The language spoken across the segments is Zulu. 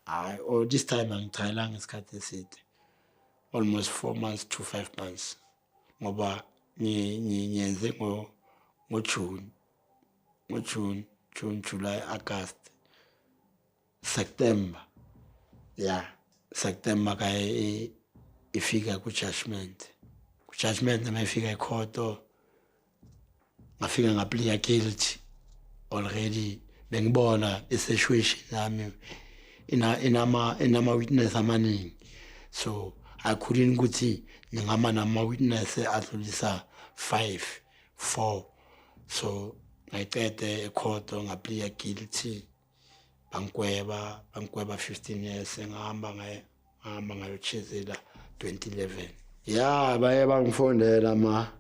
hayi or oh, this time angichayelanga isikhathi eside almost four months to five months ngoba ngiyenze ngojune ngojune june july august september ya yeah. september ka ifika ku-judgment ku-judgment uma ifika ikhoto ngafika ngapliya guilty already bengibona iseshwishi nami ina inama inama witness amaningi so i couldn't ukuthi ngingama nama witness adlulisa 5 4 so ngayicede ekhotho ngapliya guilty bangigweba bangigweba 15 years engihamba ngaye ngihamba ngayochezela 2011 ya baye bangifondela ama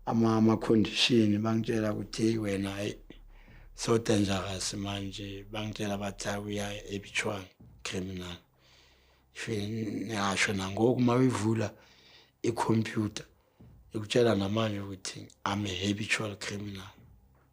ama ama condition bangitshela ukuthi wena hayi so dangerous manje bangitshela bathi uya ebichwana criminal niyasho nangoku uma uyivula ikhompyutha ikutshela namanje ukuthi i'm a habitual criminal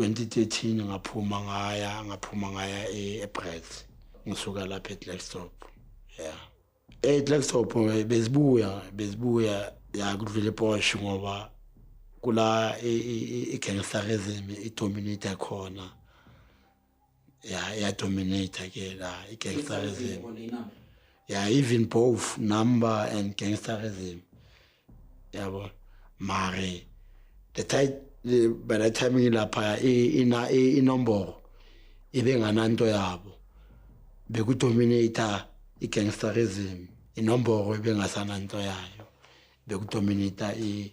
2013 ngaphuma ngaya ngaphuma ngaya e-Brits ngisuka lapha eDlackstop yeah eDlackstop eh, bezibuya bezibuya ya kudlula ePosh ngoba kula i-gangsterism idominate khona ya ya dominator ke la i gangsterism ya even both number and gangsterism yabo mare the tight by the time ngilapha ina inombolo ibengananto yabo bekudominator i gangsterism inombolo ibengasananto yayo bekudominator i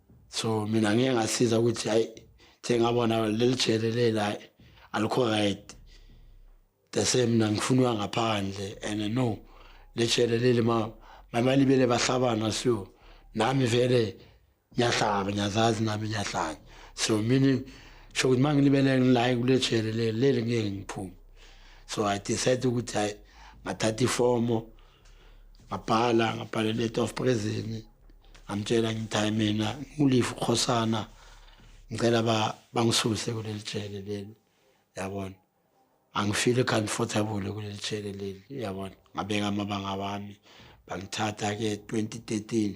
so mina ngeke ngasiza ukuthi hayi sengabona leli jele lela alikho right the same mina ngifunwa ngaphandle and no le jele leli ma mamali bele bahlabana so nami vele ngiyahlaba ngiyazazi nami ngiyahlanya so meaning sho ukuthi uma ngilibele ngilayi kule jele leli leli ngeke ngiphume so i decide ukuthi hayi ngathatha ifomo ngabhala ngabhala letter of prison ngamtshela ngithi hayi mina ngiwulive ukhosana ngicela ba bangisuse kuleli jele leli yabona angifile comfortable kuleli jele leli yabona ngabeka amabanga wami bangithatha ke 2013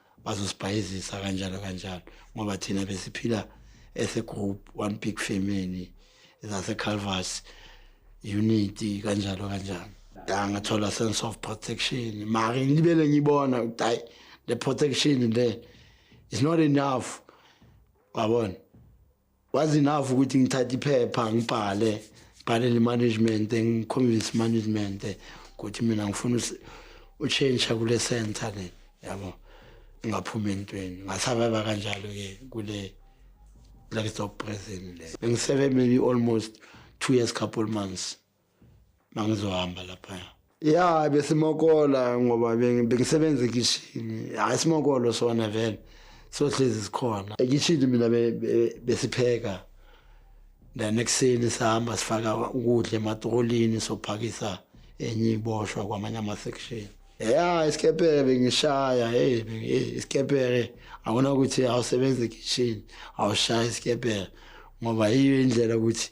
bazosibhayizisa kanjalo kanjalo ngoba thina besiphila as a group one big family zase Calvas unity kanjalo kanjalo da ngathola sense of protection mara ngibele ngibona ukuthi hayi the protection le is not enough wabona was enough ukuthi ngithathe iphepha ngibhale bhalele management ngiconvince management ukuthi mina ngifuna utshentsha kule center le yabo ngaphuma entweni ngasababa kanjalo ke kule lakesop prison le bengisebe maybe almost two years couple months mangizohamba lapha ya besimokola ngoba bengisebenza ekishini hayi simokolo sona vele sohlezi sikhona ekishini mina besipheka then ekuseni sihamba sifaka ukudla ematrolini sophakisa enye iboshwa kwamanye ama-section ya isikepere bengishaya hey isikepere akona ukuthi awusebenzi ekishini awushaye isikepere ngoba yiyo indlela ukuthi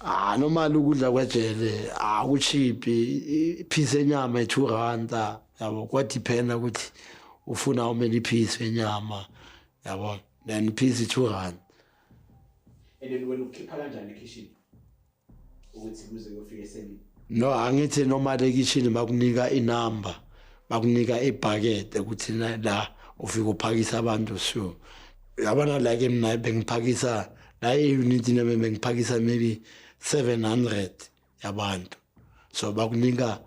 Ah normal ukudla kwejele akuchiphi ah, ipiece yenyama e2 rand yabo kwadependa ukuthi ufuna how many piece yenyama yabo then piece 2 rand and then wena ukhipha kanjani kitchen ukuthi kuze kuyofika esemini no angithi noma le kitchen bakunika inumber bakunika ibhakede ukuthi la ufika uphakisa abantu so yabona like mina bengiphakisa hayi nithi nami bengiphakisa maybe 700 yabantu so bakunika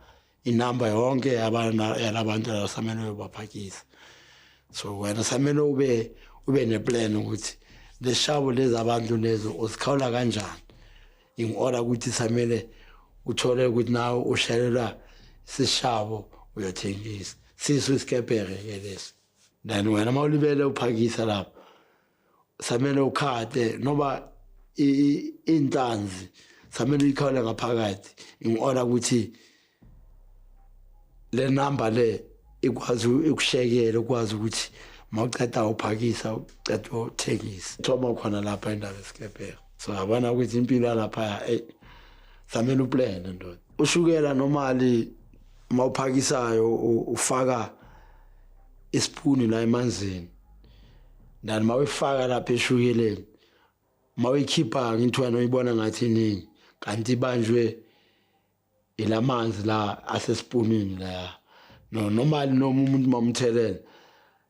inamba yonke yalabantu abasamele uyobaphakisa so wena samele ube ube neplan ukuthi leshabo lezi abantu lezo usikhawula kanjani in order ukuthi samele uthole ukuthi nawe ushelelwa sishabo uyothengisa sisu isikepere ke lesi then wena uma ulibele uphakisa lapho samele ukhate noba intanzi samele uyikhawule ngaphakathi in order ukuthi le number le ikwazi ukushekela ukwazi ukuthi mawuceda uphakisa uceda uthengisa thoma khona lapha indaba esikebheka so yabona ukuthi impilo yalapha eyi samele uplane ndoda ushukela nomali mawuphakisayo ufaka isipuni la emanzini ndani mawuyifaka lapha eshukeleni mawuyikhipha ngintwana uyibona ngathi iningi kanti ibanjwe ilamanzi la asesipunini la no noma noma umuntu mamthelela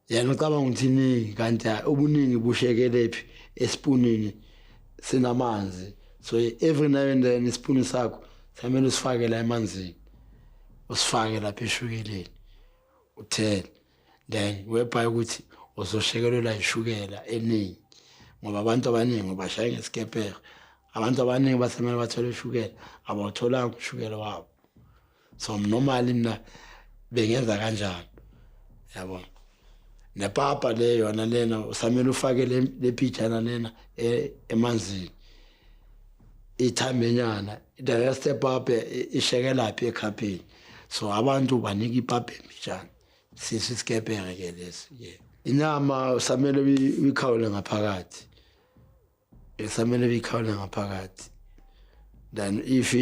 yena ucabanga ukuthi iningi kanti ubuningi bushekelephi esipunini sinamanzi so every now and then isipuni sakho samele usifake la emanzini usifake lapha eshukeleni uthele then webhaye ukuthi uzoshekelelwa ishukela eningi ngoba abantu abaningi bashaye ngesikepere abantu abaningi basemele bathole ushukela abawutholanga ushukela wabo so normally mina bengenza kanjani yabona nepapa le yona lena usamele ufake lephijana lena e, emanzini ithambenyana the rest epapa ishekelaphi ekhapheni so abantu banika ipapa emijana Sisi isikebheke ke lesi. Yeah. Inyama usamele uyikhawule ngaphakathi. Usamele uyikhawule ngaphakathi. Then if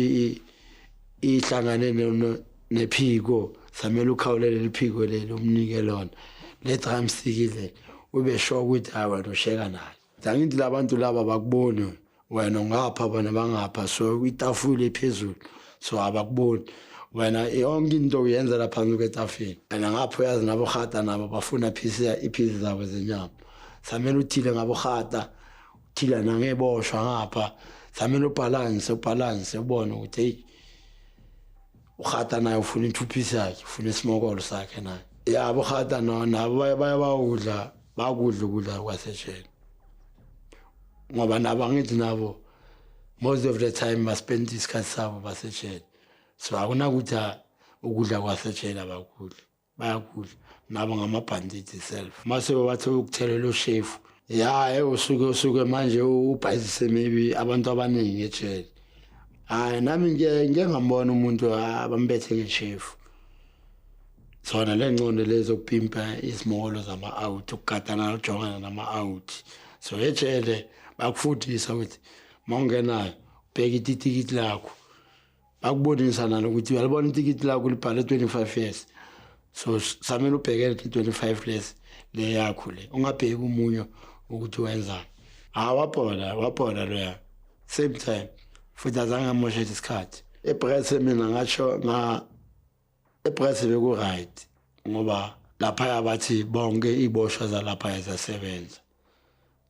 ihlangane nephiko samele ukhawulele liphiko leli umnike lona. Le drumstick le ube sure ukuthi hayi wena usheka nayo. zangithi labantu laba bakuboni wena ungapha bona bangapha so itafula ephezulu so abakuboni wena yonke into uyenza laphansi kwetafeni wena ngapho uyazi nabohata nabo bafuna iphisi zabo zenyama samele uthile ngabohata uthile nangeboshwa ngapha samele ubhalanse ubhalanse ubone ukuthi eyi urhata naye ufuna ithuphisi yakhe ufuna isimokolo sakhe naye ya burhata no nabo baye baye bawudla bakudla ukudla kwasesheni ngoba nabo angithi nabo most of the time baspenda isikhathi sabo basesheni so akunakuthi ukudla kwasesheni abakudli bayakudla nabo ngamabhandidi self mase babathe ukuthelela ushefu ya eh, usuke usuke manje ubhayizise maybe abantu abaningi ejele hayi nami ngike ngambona umuntu abambethe ngeshefu zona le ncondo lezi okupimpa izimolo zama-out ukugadana nokujongana nama-out so ejele bakufundisa ukuthi uma ungenayo ubheke ititikiti lakho bakubonisa nalo ukuthi uyalibona itikiti lakho libhale 25 years so samele ubhekele 25 lesi le yakho le ungabheki umunyo ukuthi wenzani ha wabhola wabhola loya same time futhi azange amoshe isikhathi epress mina ngasho nga epress beku right ngoba lapha yabathi bonke iboshwa zalapha yasebenza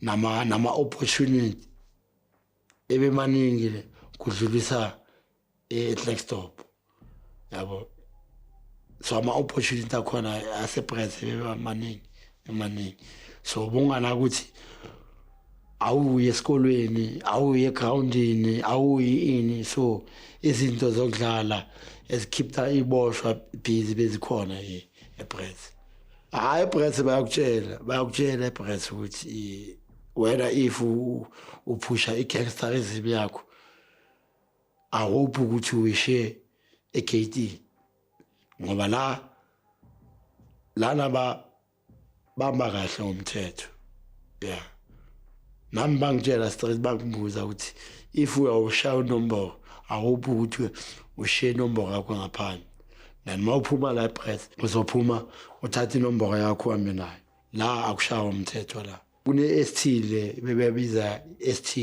nama nama opportunity ebemaningi kudlulisa eClackstop yabo so ama opportunity akhona ase price ebemaningi emaningi so bungana ukuthi awuye esikolweni awuye egroundini awuyi ini so izinto zokudlala ezikhipha iboshwa busy bezikhona epress hayi ebrets bayakutshela bayakutshela ebrets ukuthi wena if uphusha i-gangsterism yakho i hope ukuthi wishe e-kt ngoba la lana ba bamba kahle ngomthetho ya nami bangitshela straight bakubuza ukuthi if uyawushaya unombolo i hope ukuthi ushiye inombolo yakho ngaphandle then uma uphuma la ebreth uzophuma uthathe inomboro yakho uhambe nayo la akushawa umthetho la kune-st le bebebiza st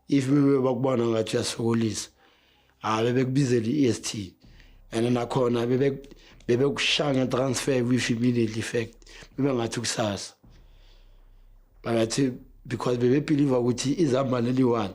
if bebe bakubona ngathi uyasokolisa hayi bebekubizela i-st and nakhona bebekushaya ngetransfer with immediate effect bebengathi kusasa bangathi because bebebhiliva ukuthi izamba leli one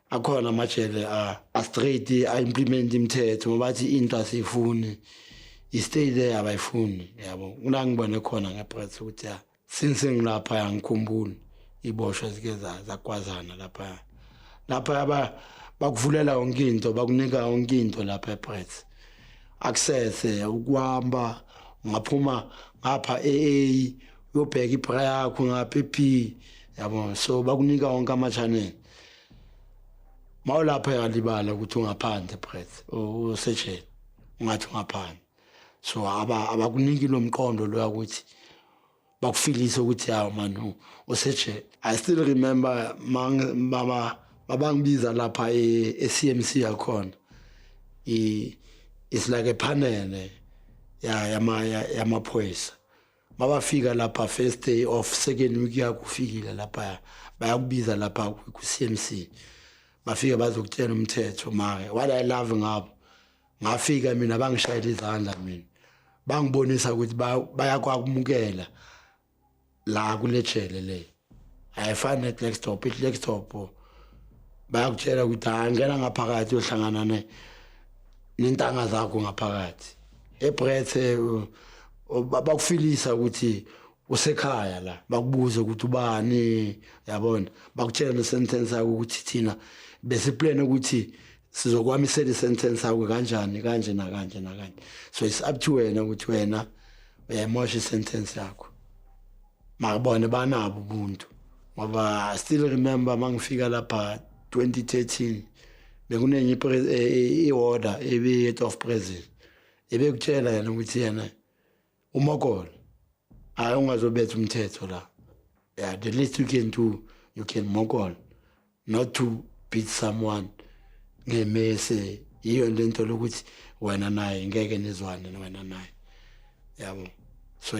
akhona amajele astraight a-implement imithetho ngoba athi into asiyifuni istay there abayifuni yabo kula ngibone khona ngephakathi ukuthi ya since ngilapha yangikhumbuli iboshwa zike zakwazana lapha lapha yaba bakuvulela yonke into bakunika yonke into lapha ePirates access ukuhamba ungaphuma ngapha AA uyobheka ibra yakho ngapha eP yabo so bakunika wonke ama-channel mawulapha yalibala ukuthi ungaphandle breath usejele ungathi ungaphandle so aba abakuniki lo mqondo lo ukuthi bakufilise ukuthi hawu manu usejele i still remember mama babangibiza lapha e-CMC e yakhona i is like a panel ya yama yamaphoyisa mabafika lapha first day of second week yakufikile lapha bayakubiza lapha ku-cmc bafike bazokutshena umthetho make what i love ngabo ngafika mina bangishayela izandla mina bangibonisa ukuthi bayakwakumukela la kule jele leyo ayifani ne-clex top i-clex top bayakutshela ukuthi angena ngaphakathi yohlangana nentanga zakho ngaphakathi ebrethe bakufilisa ukuthi usekhaya la bakubuze ukuthi ubani yabona bakutshela nesentence yakho ukuthi thina besiplane ukuthi sizokwamisela isentence yakho kanjani kanje nakanje nakanje so it's up to wena ukuthi wena uyayimosha isentence yakho makubone banabo ubuntu ngoba I still remember mangifika lapha 2013 bekunenye i-order e, e, ebiyi-head of prison ebekutshela yena ukuthi yena umokolo hhayi ungazobetha umthetho la yeah, the least you can do you can mokolo not to beat someone ngemese yiyo lento lokuthi wena naye ngeke nizwane wena naye yabo so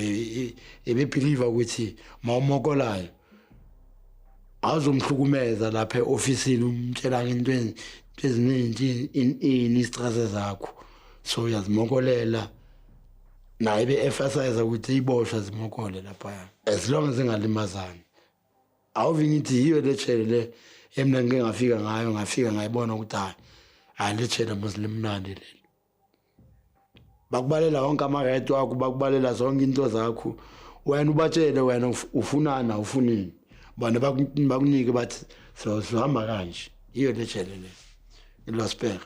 ebebelieve ukuthi mawumokolayo awuzomhlukumeza lapha eofisini umtshela into eziningi ini istress zakho so uyazimokolela naye be-emphasize ukuthi iboshwa zimokole lapha as long as ingalimazani awuve ngithi yiyo le chele le emna ngike ngafika ngayo ngafika ngayibona ukuthi hayi hayi le chele mos limnandi leli bakubalela wonke ama-right wakho bakubalela zonke into zakho wena ubatshele wena ufunani awufunini bona bakunike bathi sizohamba kanje yiyo le chele le ngilospera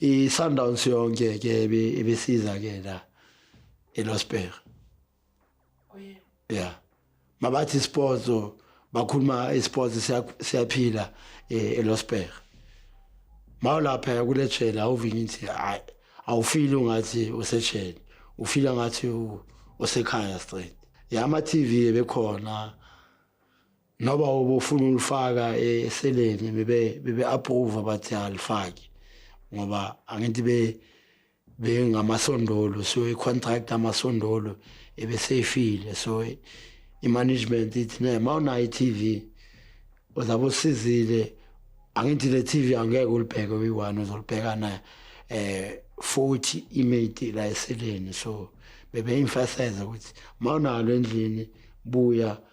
i-sundowns yonke ke ibisiza ke la elosberg oh, ya mabathi sports bakhuluma isports siyaphila eh, elosberg mawulapha kulejela awuvinye ukuthi hayi awufili ungathi usejele ufila ngathi usekhaya straight ya ama-tv ebekhona noba ubufuna ulifaka eseleni bebe bebe approve bathi alifaki ngoba angithi be bengamasondolo so i contract amasondolo ebeseyifile so i management ithi ne mawunayo iTV uzabe usizile angithi le TV angeke ulibheke uyi-one uzolibheka na eh 40 imate la eseleni so bebe emphasize ukuthi mawunalo endlini buya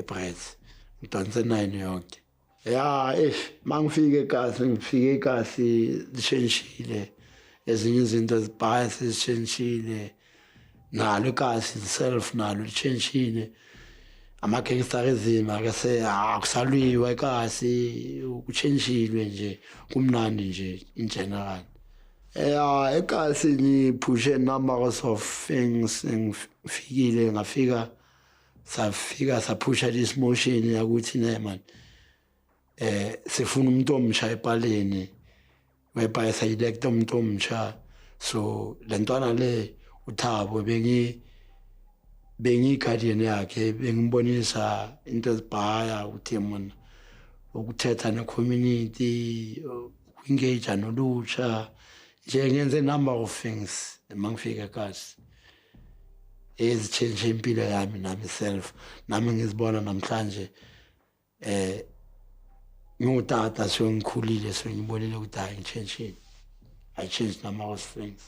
iBreath ngidanse nine yonke ya eish mangifike kasi ngifike kasi lishentshile ezinye izinto ezibhaya sezishentshile nalo kasi self nalo lishentshile amagangster ezima ke se akusalwiwa kasi kuchentshilwe nje kumnandi nje in general ya ekasi ngiphushe numbers of things ngifikile ngafika safika saphusha this motion yakuthi ne man eh sifuna umuntu omsha epaleni webhayi sayilecta umuntu omsha so lentwana le uthabo bengi bengiyi-guardian yakhe bengibonisa into ezibhaya ukuthi mona ukuthetha ne-community uku-engage nolutsha nje ngenze number of things uma ngifike kasi ezitshentshe impilo yami nami self nami ngizibona namhlanje eh ngutata sengikhulile sengibonile ukuthi hayi ngitshentshile i changed nama was friends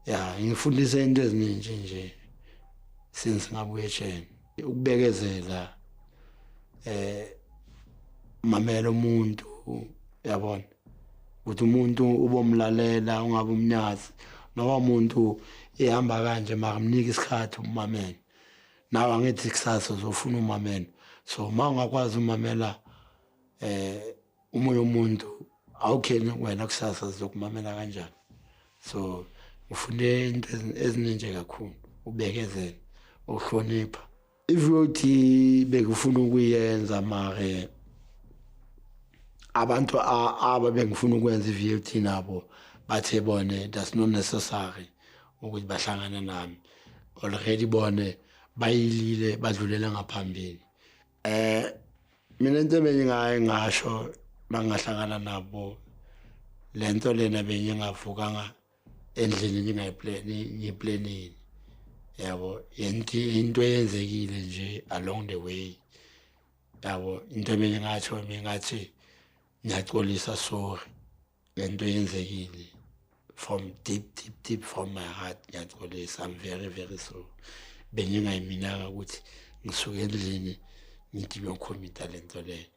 ya ngifundise into eziningi nje since ngabuye etsheni ukubekezela eh mamela umuntu yabona ukuthi umuntu ubomlalela ungabe umnyazi noma umuntu ehamba kanje makamnike isikhathi umamela nawe angithi kusasa uzofuna umamela so uma ungakwazi umamela eh umoya umuntu awukheni wena kusasa sizokumamela kanjani so ufunde into ezininje kakhulu ubekezela ukuhlonipha if uyothi bekufuna ukuyenza mare abantu aba bengifuna ukwenza i-VLT nabo bathe bone that's not necessary ukuthi bahlangane nami already bone bayilile badlulela ngaphambili eh mina into bengingaye ngasho bangahlangana nabo lento lena bengingavukanga endlini ningayiplani ngiplanini yabo yenti into eyenzekile nje along the way yabo into mina ngathi mina ngathi ngiyaxolisa sorry lento eyenzekile from deep deep deep from my heart ngiyaxolisa i'm very very sorry bengingayiminaka ukuthi ngisuke endlini ngithi ngiyokhomita lento leyo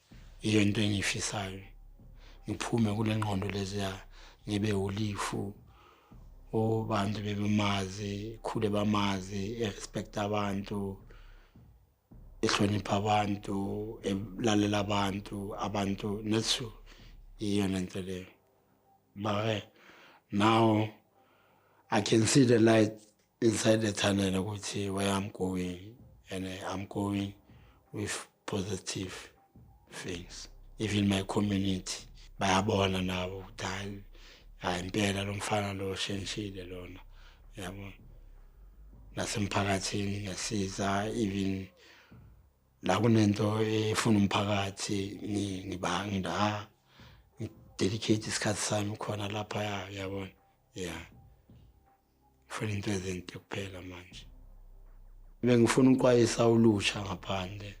yiyo into engiyifisayo ngiphume kule ngqondo leziya ngibe ulifu obantu bebemazi khule bamazi erespect abantu ehlonipha abantu elalela abantu abantu nethu iyona nto leyo mare now i can see the light Inside the tunnel ukuthi where I'm going and I'm going with positive things. Even my community bayabona nabo ukuthi hayi hayi impela lo mfana lo shentshile lona yabo nasemphakathini ngiyasiza even la kunento efuna umphakathi ngibanga nda dedicate isikhathi sami khona lapha yabona yeah ngifuna into ezinhle kuphela manje bengifuna ukwayisa ulusha ngaphandle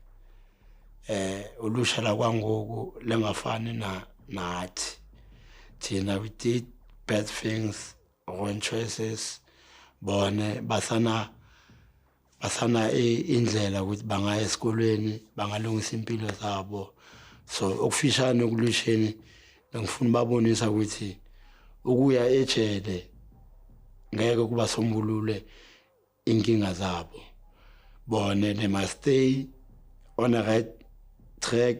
eh ulusha la kwangoku lengafani na nathi thina we did bad things wrong choices bone basana basana indlela ukuthi bangaya esikolweni bangalungisa impilo zabo so okufishane okulwisheni ngifuna babonisa ukuthi ukuya ejele ngeke kuba sombulule inkinga zabo bone they must stay on a right track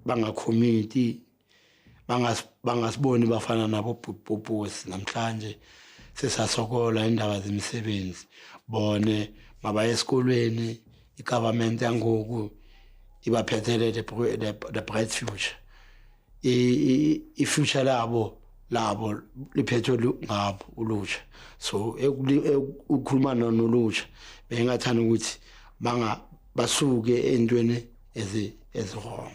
bangakhomiti bangasiboni bafana nabo bhubhubhusi namhlanje sesasokola indaba zemisebenzi bone mabaye esikolweni i-government yangoku ibaphethele the bright future i-future labo labo liphethwe ngabo ulutsha so ukukhuluma nolutsha bengingathanda ukuthi basuke entweni eziwrong